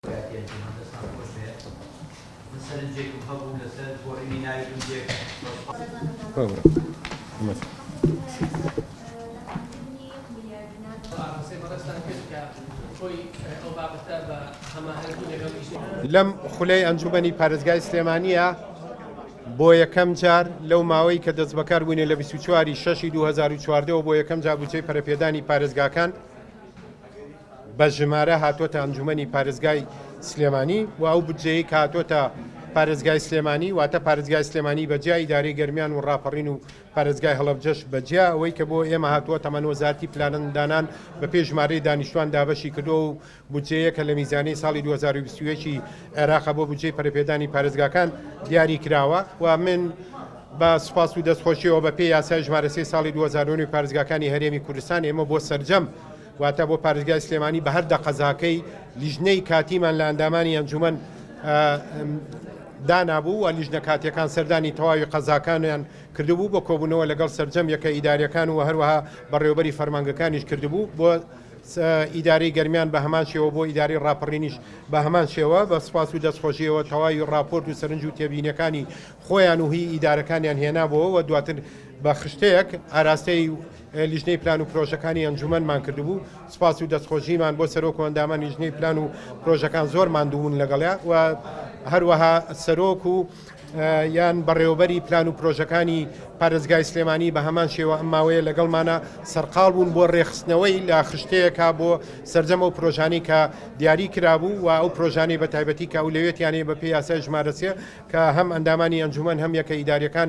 کاکیان گیان دەستان خۆش بێ من سەرنجێکم هەبوو لەسەر گۆڕینی ناوی گونجێک لەم خولەی ئەنجومەنی پارێزگای سلێمانیە بۆ یەکەم جار لەو ماوەی کە دەست بەکار بووینە لە 24 شەشی 2014 بۆ یەکەم جا بچەی پەرپێدانی پارێزگاکان بە ژمارە هاتووەتە ئەنجوومەنی پارێزگای سلێمانی و ئەو بودجەیەی کە هاتووەتە پارێزگای سلێمانی، واتە پارێزگای سلێمانی بە جیا ئیدارەی گەرمیان و ڕاپەڕین و پارێزگای هەڵەبجەش بە جیا، ئەوەی کە بۆ ئێمە هاتووە تەمەن وەزارەتی پلاندانان بە پێی ژمارەی دانیشتووان دابەشی کردووە و بودجەیەکە لە میزانیەی ساڵی دوو هەزار و بیست و یەک ی عێراق بۆ بودجەی پەرەپێدانی پارێزگاکان دیاری کراوە و من بە سوپاس و دەستخۆشیەوە بە پێی یاسای ژمارە سێی ساڵی دوو هەزار و نۆ ی پارێزگاکانی هەرێمی کوردستان ئێمە بۆ سەرجەم واتە بۆ پارێزگای سلێمانی بە هەر دە قەزاکەی لیژنەی کاتیمان لە ئەندامانی ئەنجومەن دانابوو و لیژنە کاتیەکان سەردانی تەواوی قەزاکانیان کردبوو بۆ کۆبوونەوە لەگەڵ سرجەم یەکە ئیداریەکان و هەروەها بەڕێوبەری فەرمانگەکانیش کردبوو بۆ ئیداری گەرمیان بە هەمان شێوە بۆ ئیداری ڕاپەڕینیش بە هەمان شێوە بە سپاس و دەستخۆشیەوە تەواوی راپۆرت و سەرنج و تێبینەکانی خۆیان و هی ئیدارەکانیان هێنابەوە و دواتر بە خشتەیەک ئاراستەی لیژنەی پلان و پرۆژەکانی ئەنجومەنمان کردبوو، سوپاس و دەستخۆشیمان بۆ سەرۆک و ئەندامانی لیژنەی پلان و پرۆژەکان زۆر ماندووبوون لەگەڵیا و هەروەها سەرۆک و یان بەڕێوەبەری پلان و پرۆژەکانی پارێزگای سلێمانی بە هەمان شێوە ئەم ماوەیە لەگەڵمانە سەرقاڵ بوون بۆ ڕێخستنەوەی لە خشتەیەکە بۆ سەرجەم ئەو پرۆژانەی کە دیاری کرابوو و ئەو پرۆژانەی بە تایبەتی کە ئەولەوێتیانەیە بە پێی یاسای ژمارە سێ کە هەم ئەندامانی ئەنجومەن هەم یەکە ئیداریەکان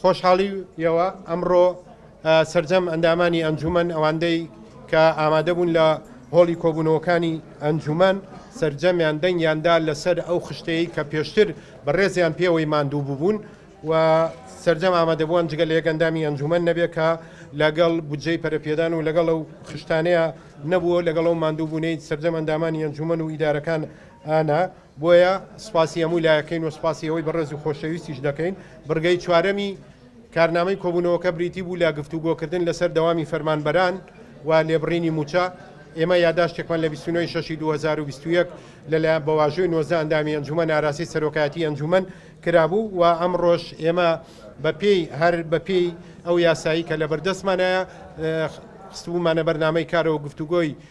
خۆشحاڵی یەوە ئەمڕۆ سەرجەم ئەندامانی ئەنجومەن ئەواندەی کە ئامادەبوون لە هۆڵی کۆبوونەوەکانی ئەنجومەن سەرجەمیان دەنگیاندا لەسەر ئەو خشتەیە کە پێشتر بە ڕێزیان پێوەی ماندوو ببوون و سەرجەم ئامادەبووان جگە لە یەکەندامی ئەنجومەن نەبێت کە لەگەڵ بودجەی پەرپێدان و لەگەڵ ئەو خشتانەیە نەبووە لەگەڵ ئەو ماندووبوونەی سەرجەم ئەندامانی ئەنجومەن و ئیدارەکان ئانا بۆیە سپاسی هەموو لایەکەین و سپاسی ئەوەی بەڕێز و خۆشەویستیش دەکەین. بڕگەی چوارەمی کارنامەی کۆبوونەوەکە بریتی بوو لە گفتوگۆکردن لەسەر دەوامی فەرمانبەران و لێبڕینی مووچە. ئێمە یاداشتێکمان لە بیست و نۆ ی شەشی دوو هەزار و بیست و یەک لەلایەن بە واژۆی نۆزدە ئەندامی ئەنجوومەن ئاراستەی سەرۆکایەتیی ئەنجوومەن کرابوو و ئەمڕۆش ئێمە بەپێی هەر بەپێی ئەو یاسایەی کە لەبەردەستمانایە خستبوومانە بەرنامەی کارەوە گفتوگۆی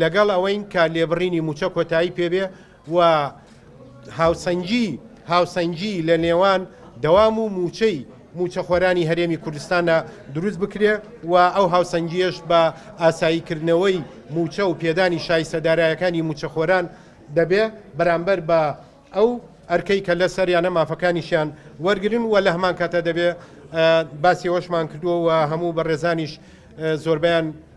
لەگەڵ ئەوەین کە لێبڕینی مووچە کۆتایی پێبێ و هاوسەنگی هاوسەنگی لە نێوان دەوام و مووچەی مووچەخۆرانی هەرێمی کوردستانە دروست بکرێ و ئەو هاوسەنگیەش بە ئاساییکردنەوەی مووچە و پێدانی شایستە دارایەکانی مووچەخۆران دەبێ بەرامبەر بە ئەو ئەرکەی کە لە سەریانە مافەکانیشیان وەرگرن و لە هەمان کاتە دەبێ باسی ئەوەشمان کردووە و هەموو بەڕێزانیش زۆربیان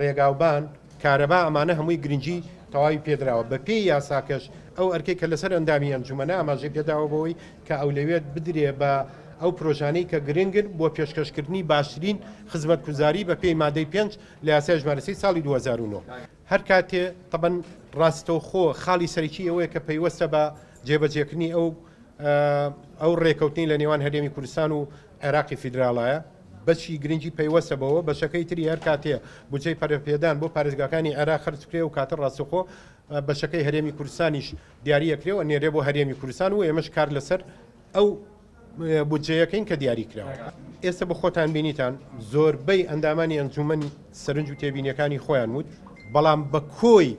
ڕێگاوبان، کارەبا ئەمانە هەمووی گرنگی تەواوی پێدراوە، بە پێی یاساکەش ئەو ئەرکەی کە لەسەر ئەندامی ئەنجومەنە ئاماژەی پێداوە بەوەی کە ئەولەویەت بدرێ بە ئەو پرۆژانەی کە گرنگن بۆ پێشکەش کردنی باشترین خزمەتکوزاری بە پێی مادەی پێنج لە یاسای ژمارە سی ساڵی دوو هەزار و نۆ. هەر کاتێ تەبەن ڕاستەوخۆ خاڵی سەرەکی ئەوەیە کە پەیوەستە بە جێبەجێکردنی ئەو ئەو ڕێکەوتنەی لە نێوان هەرێمی کوردستان و عێراقی فیدراڵایە بەشی گرنگی پەیوەستە بەوە بەشەکەی تری هەر کاتێ بودجەی پەرەپێدان بۆ پارێزگاکانی عێراق خەرج بکرێ و کاتە ڕاستەخۆ بەشەکەی هەرێمی کوردستانیش دیاریە کرێ و نێرێ بۆ هەرێمی کوردستان و ئێمەش کار لەسەر ئەو بودجەیەکەین کە دیاری کراوە ئێستا بە خۆتان بینیتان زۆربەی ئەندامانی ئەنجومەنی سەرنج و تێبینیەکانی خۆیان وت بەڵام بە کۆی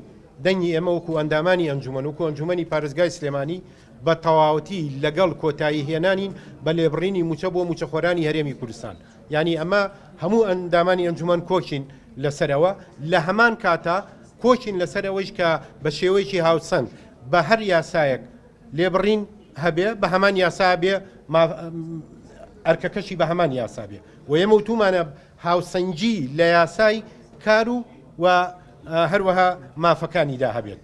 دەنگی ئێمە وەکو ئەندامانی ئەنجومەن وکو ئەنجومەنی پارێزگای سلێمانی بە تەواوەتی لەگەڵ کۆتایی هێنانین بە لێبڕینی مووچە بۆ مووچەخۆرانی هەرێمی کوردستان، یانی ئەمە هەموو ئەندامانی ئەنجومەن کۆکین لەسەرەوە، لە هەمان کاتا کۆکین لەسەر ئەوەیش کە بە شێوەیەکی هاوچەند بە هەر یاسایەک لێبڕین هەبێ بە هەمان یاسا بێ ئەرکەکەشی بە هەمان یاسا بێ و ئێمە وتومانە هاوسەنگی لە یاسای کار و و هەروەها مافەکانیدا هەبێت.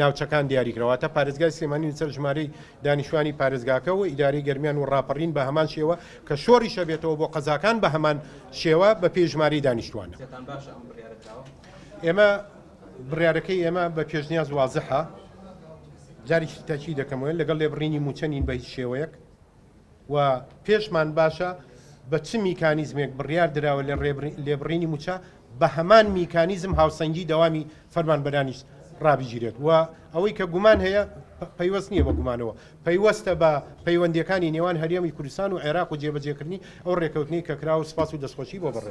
ناوچەکان دیاری کرا، واتە پارێزگای سلێمانی لەسەر ژمارەی دانیشتوانی پارێزگاکە و ئیدارەی گەرمیان و ڕاپەڕین بە هەمان شێوە کە شۆڕیش ئەبێتەوە بۆ قەزاکان بە هەمان شێوە بە پێی ژمارەی دانیشتوان. ئێمە بڕیارەکەی ئێمە بە پێشنیاز وازحە، جارێکی تری تەئکید دەکەمەوە، لەگەڵ لێبڕینی مووچە نین بە هیچ شێوەیەک، و پێشمان باشە بە چ میکانیزمێک بڕیار دراوە لە لێبڕینی موچە بە هەمان میکانیزم هاوسەنگی دەوامی فەرمانبەرانیش ڕابگیرێت و ئەوەی کە گومان هەیە پەیوەست نییە بە گومانەوە پەیوەستە بە پەیوەندەکانی نێوان هەرێمی کوردستان و عێراق و جێبەجێکردنی ئەو ڕێکەوتنی کە کرا و سپاس و دەستخۆشی بۆ بڕێت.